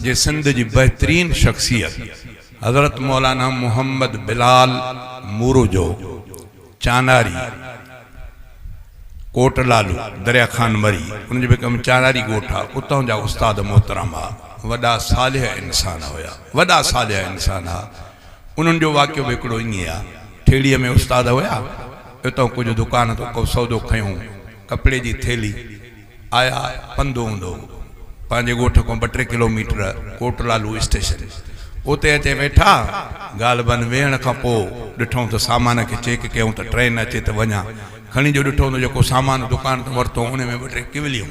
جي سنڌ جي بهترين شخصيت حضرت مولانا محمد بلال موروجو چاناري ڪوٽ لالو دريا خان مري ان جو به ڪم چاناري ڳوٺ آ اتان جا استاد محترم آ وڏا صالح انسان هيا وڏا صالح انسان آ انهن جو واقعو به هڪڙو ائين آ ٺيڙهي ۾ استاد هيا اتان ڪجهه دڪان تان ڪو سودو کنيو ڪپڙي جي ٿيلي آيا پنڌ اوندو پنهنجي ڳوٺ کان ٻه ٽي kilometre Kot Lalu station اتي اچي ويٺا غالباً ويهڻ کان پوء ڏٺائون ته سامان کي چيڪ ڪيائون ته ٽرين اچي ته وڃان کڻي جو ڏٺو ته جيڪو سامان دڪان تان ورتو ان ۾ ٻه ٽي ڪوليون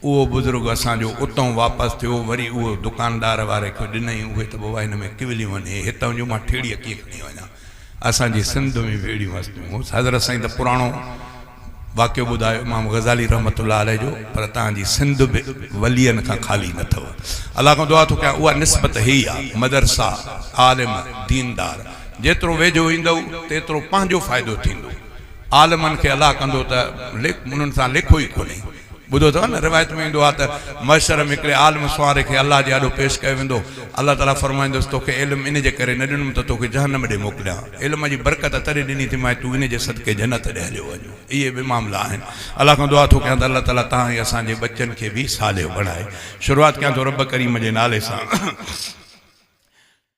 اهو بزرگ اسان جو اتان واپس ٿيو وري اهو دڪاندار واري کي ڏنائين اهي ته بابا هن ۾ ڪوليون آهن هتان جون مان ٺيڙهي ڪيئن کڻي وڃان. اسان جي سنڌ ۾ به اهڙيون هستيون هوس. حضرت سائين ته پراڻو واقعو ٻڌايو امام غزالي رحمة الله عليه جو پر توهان جي سنڌ به ولين کان خالي نه اٿئو. الله کان دعا ٿو ڪيان اها نسبت هي ئي آ. مدرسا، عالم، ديندار جيترو ويجهو ايندئو تيترو پنهنجو فائدو ٿيندو. عالمن کي الله ڪندو ته انهن سان ليکو ئي ڪونهي. ٻڌو اٿئو نه روايت ۾ ايندو آهي ته محشر ۾ هڪڙي عالم سوانح کي الله جي آڏو پيش ڪيو ويندو الله تعالي فرمائيندوس توکي علم ان جي ڪري نه ڏنم ته توکي جهنم ڏي موڪليان علم جي برڪت تڏهن ڏني ٿي مانء تون ان جي صدقي جنت ڏي هليو وڃ اهي ٻه معاملا آهن الله کان دعا ٿو ڪيان ته الله تعالي تهان ۽ اسان جي ٻچن کي به صالح بڻائي شروعات ڪيان ٿو رب ڪريم جي نالي سان.